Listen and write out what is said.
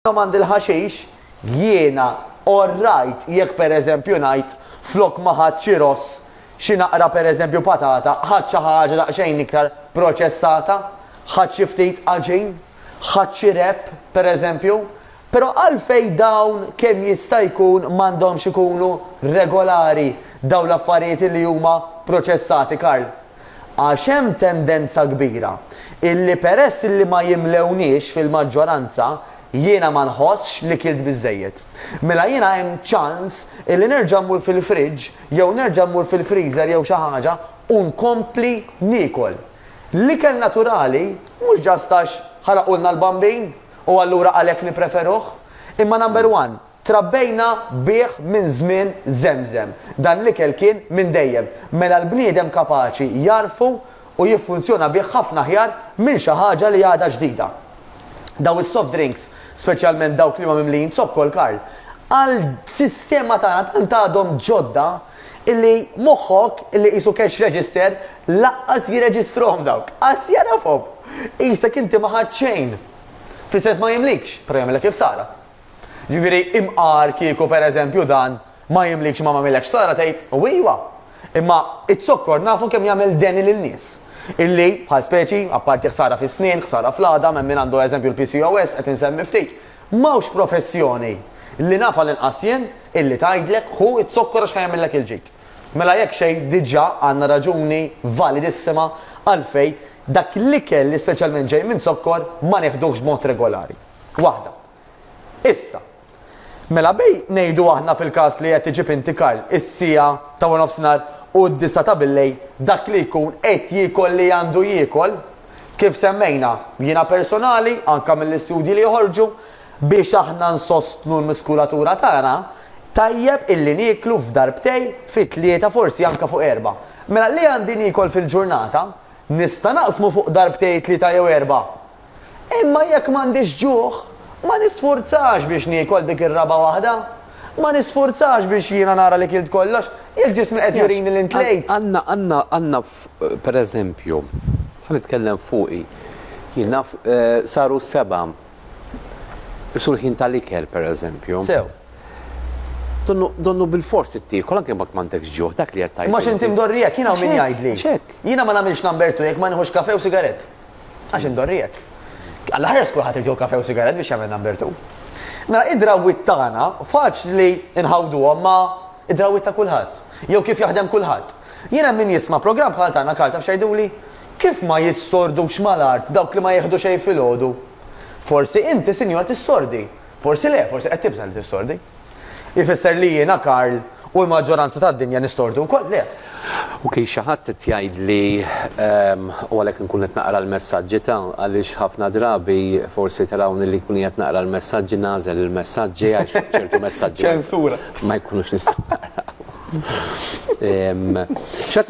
Domandi l-ħaxix, jiena orrajt jekk pereżempju ngħid flok ma ħadt xi ross, xi naqra pereżempju patata, ħadt xi ħaġa daqsxejn iktar proċessata, ħadt xi ftit għaġin, ħadt xi wrap, pereżempju. Però għalfejn dawn kemm jista' jkun m'għandhomx ikunu regolari dawn l-affarijiet li huma proċessati, Karl? għax hemm tendenza kbira illi peress illi ma jimlewniex fil-maġġoranza jiena ma nħossx li kilt biżżejjed. Mela jiena hemm ċans illi nerġa' mmur fil-fridge jew nerġa' mmur fil-freezer jew xi ħaġa u nkompli niekol. L-ikel naturali mhux ġast għax ħalaqulna l-bambin u allura għalhekk nippreferuh, imma number one, Trabbejna bih minn żmien żemżem. Dan l-ikel kien minn dejjem. Mela l-bniedem kapaċi jagħrfu u jiffunzjona bih ħafna aħjar minn xi ħaġa li għadha ġdida. Dawn is-soft drinks, speċjalment dawk li huma mimlijin zokkor, Karl, għall-sistema tagħna tant għadhom ġodda illi moħħok illi qisu cash register laqqas jirreġistrahom dawk. Qas jagħrafhom. Qisek inti ma ħadt xejn. Fl-istess ma jimlikx, però jagħmilek il-ħsara. Jiġifieri imqar kieku pereżempju dan ma jimlikx ma m'għamillekx ħsara tgħid u iva. Imma iz-zokkor nafu kemm jagħmel deni lin-nies. Illi, bħal speċi, apparti ħsara fis-snien, ħsara fl-għadam, hemm min għandu eżempju l-PCOS, qed insemmi ftit. M'hawnx professjoni, li naf għall-inqas jien, illi tgħidlek ħu z-zokkor għax ħa jagħmillek il-ġid. Mela jekk xejn diġà għandna raġuni validissima għalfejn dak l-ikel li speċjalment ġej minn zokkor ma neħduhx b'mod regolari. Waħda. Issa, mela bejn ngħidu aħna fil-każ li qed iġib inti Karl is-siegħa ta' waranofsinhar u d-disgħa ta' billejl dak li jkun qed jiekol li għandu jiekol, kif semmejna, jiena personali, anke mill-istudji li joħorġu, biex aħna nsostnu l-muskulatura tagħna, tajjeb illi nieklu f'darbtej fi tlieta forsi anke fuq erba'. Mela li għandi niekol fil-ġurnata, nista' naqsmu fuq darbtej tlieta jew erba'? Imma jekk m'għandix ġuħ, ma nisfurzax biex niekol dik ir-raba' waħda. Ma nisfurzax biex jiena nara li kilt kollox, jekk ġismi qed jurini li ntlejt. Għandna, għandna, għandna f', per eżempju, ħa nitkellem fuqi, jien naf saru s-sebgħa, issu l-ħin tal-ikel, per eżempju. Sew. Donnu, donnu bilfors trid tiekol anke jekk m'għandekx ġuħ, dak li qed tgħid inti. Imma x'inti mdorrijek, jien hawn min jgħidli. Għax hekk. Jiena ma nagħmilx number two jekk ma nieħux kafè u sigarett. Għax indorri hekk. Għall-aħjar skur ħadd irid jieħu kafè u sigarett biex jagħmel number two. Mela id-drawwiet tagħna faċli nħawduhom ma' id-drawwiet ta' kulħadd. Jew kif jaħdem kulħadd. Jien hemm min jisma' programm bħal tagħna Karl taf x'għiduli? Kif ma jissordux mal-art dawk li ma jieħdu xejn filgħodu? Forsi inti sinjura tissordi. Forsi le, forsi qed tibża' li tissordi. Ifisser li jiena, Karl, u l-maġġoranza tad-dinja nistordu wkoll? Le. Ok, xi ħadd qed jgħidli, ehm, u għalhekk inkun qed naqra l-messaġġi ta', għaliex ħafna drabi forsi tarawni li nkun qiegħed naqra l-messaġġi nagħżel il-messaġġi għax ċertu messaġġi. Ċensura. Ma jkunux nistgħu naqrawhom. Ehm, x'għad